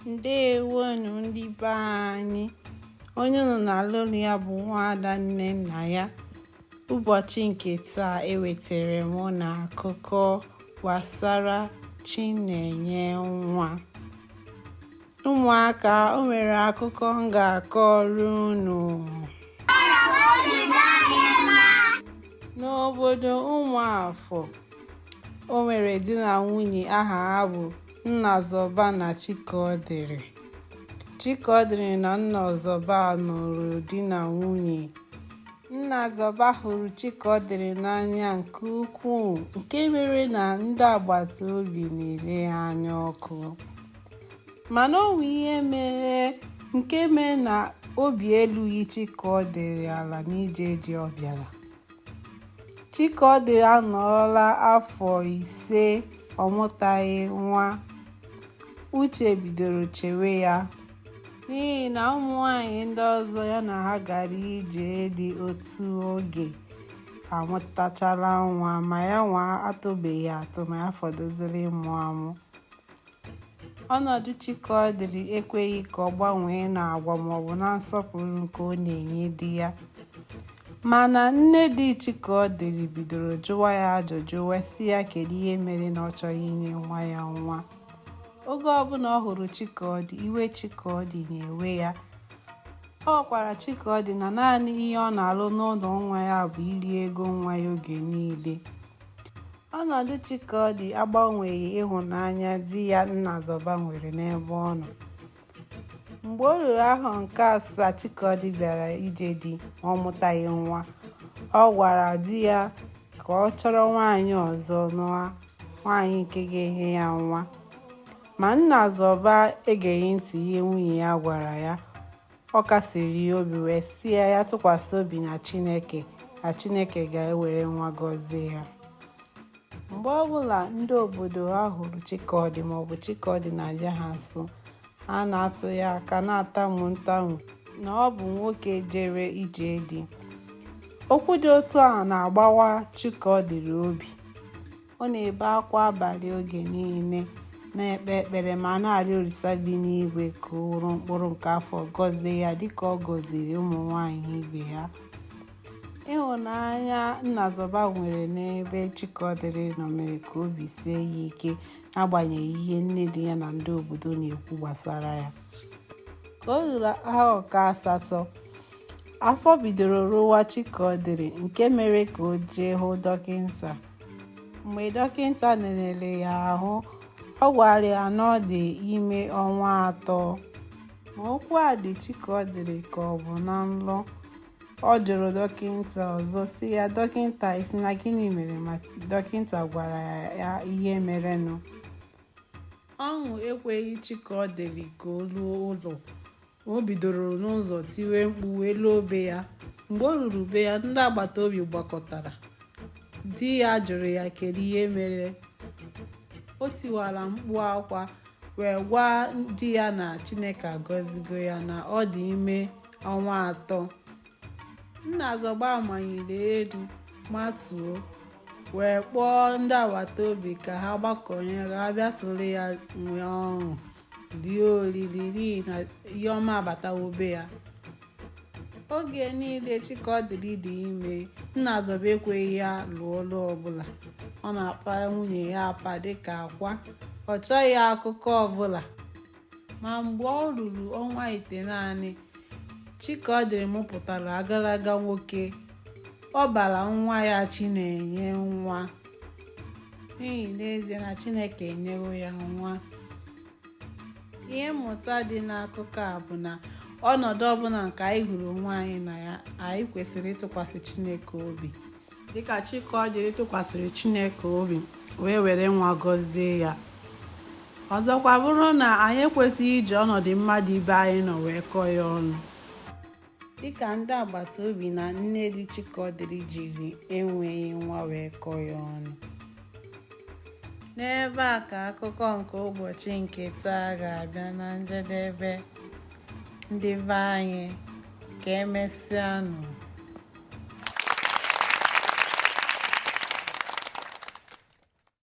ndewonu ndị be anyị onye unu na-anụ olu ya bụ nwaada nnennaya ụbọchị nke taa ewetara m unu akụkọ gbasara chinenyenwa ụmụaka o nwere akụkọ m ga-akọrọ unu n'obodo ụmụafọ o nwere di na nwunye aha ha bụ nnazọba na chikaọdịrị chikaọdịrị na nnazọba nụrụ di na nwunye nnazọba hụrụ chikaọdịrị n'anya nke ukwuu nke mere na ndị agbata obi na-ele ha anya ọkụ mana o nwere ihe mere nke mere na obi elughị chikaọdịrị ala n'ije di ọ bịara Chikọdị anọọla afọ ise ọ mụtaghị nwa. Uche bidoro chewe ya. N'ihi na ụmụ nwaanyị ndị ọzọ ya na ha gara ije di otu oge amụtachala nwa ma ya nwa atụbeghị atụ ma ya fọdụziri ịmụ amụ. Ọnọdụ Chikaọdịrị ekweghị ka ọ gbanwee n'agwa maọbụ na nsọpụrụ nke ọ na-enye di ya. Mana nne di Chikaọdịrị bidoro jụwa ya ajụjụ wee sị ya kedu ihe mere na ọ chọghị inye nwa ya nwa. Oge ọbụla ọ hụrụ Chikaọdị, iwe Chikaọdị na-ewe ya. Ọ gwakwara Chikaọdị na naanị ihe ọ na-alụ n'ụlọ nwa ya bụ iri ego nwa ya oge niile. ọnọdụ Chikọdị agbanweghị ịhụnanya di ya Nnazọba nwere n'ebe ọ nọ mgbe o ruru ahọ nke asaa Chikọdị bịara ije di ma ọ mụtaghị nwa ọ gwara di ya ka ọ chọrọ nwaanyị ọzọ nụa nwaanyị nke ga-enye ya nwa ma Nnazọba egeghị ntị ihe nwunye ya gwara ya ọ kasiri ya obi wee sị ya ya tụkwasị obi na chineke na chineke ga-ewere nwa gọzie ya mgbe ọbụla ndị obodo ha hụrụ chikọdị maọbụ chikọdị na-abịa ha nso ha na-atụ ya aka na-atamu ntamu na ọ bụ nwoke jere ije di okwu dị otu ahụ na-agbawa chikọdịrị obi ọ na-ebe akwa abalị oge niile na-ekpe ekpere ma na-arịọ olisa bi n'igwe ka o were mkpụrụ nke afọ gọzie ya dịka ọ gọziri ụmụ nwanyị ibe ya ịhụnanya nnazọba nwere n'ebe chikọdịrị nọ mere ka obi sie ya ike n'agbanyeghị ihe nne di ya na ndị obodo na-ekwu gbasara ya ka o ruru ahọ nke asatọ afọ bidoro rụwa chikọdịrị nke mere ka o jee hụ dọkịta mgbe dọkịta lelere ya ahụ ọ gwara ya na ọ dị ime ọnwa atọ ma okwu a dị Chikọdịrị ka ọ bụ na nlọ ọ jụrụ dọkịta ọzọ sị ya dọkịta ị sị na gịnị mere ma dọkịta gwara ya ihe merenụ ọṅụ ekweghị Chikọdịrị ka o ruo ụlọ o bidoro n'ụzọ tiwe mkpu wee luo be ya mgbe o ruru be ya ndị agbata obi gbakọtara di ya jụrụ ya kedu ihe mere o tiwara mkpu akwa wee gwa di ya na chineke agọzigo ya na ọ dị ime ọnwa atọ Nnazọba manyere elu matuo wee kpọọ ndị agbata obi ka ha gbakọnye ka ha bịa soro ya nwee ọṅụ rie oriri n'ihi na ihe ọma abatawo be ya oge niile Chikọdịrị dị ime Nnazọba ekweghị ya lụọ ọlụ ọbụla ọ na-apa nwunye ya apa dịka akwa ọ chọghị akụkọ ọbụla ma mgbe o ruru ọnwa itenaanị Chikọdịrị mụpụtara agalaga nwoke ọ bara nwa ya Chinenyenwa n'ihi n'ezie na Chineke enyewo ya nwa ihe mmụta dị n'akụkọ a bụ na ọnọdụ ọbụla nke anyị hụrụ onwe anyị na ya anyị kwesịrị ịtụkwasị Chineke obi dịka Chikọdịrị tụkwasịrị Chineke obi wee were nwa gọzie ya ọzọkwa bụrụ na anyị ekwesịghị iji ọnọdụ mmadụ ibe anyị nọ wee kọọ ya ọnụ dịka ndị agbata obi na nne di Chikọdịrị jiri enweghị nwa wee kọọ ya ọnụ n'ebe a ka akụkọ nke ụbọchị nke taa ga-abịa na njedebe ndị be anyị ka emesịanụ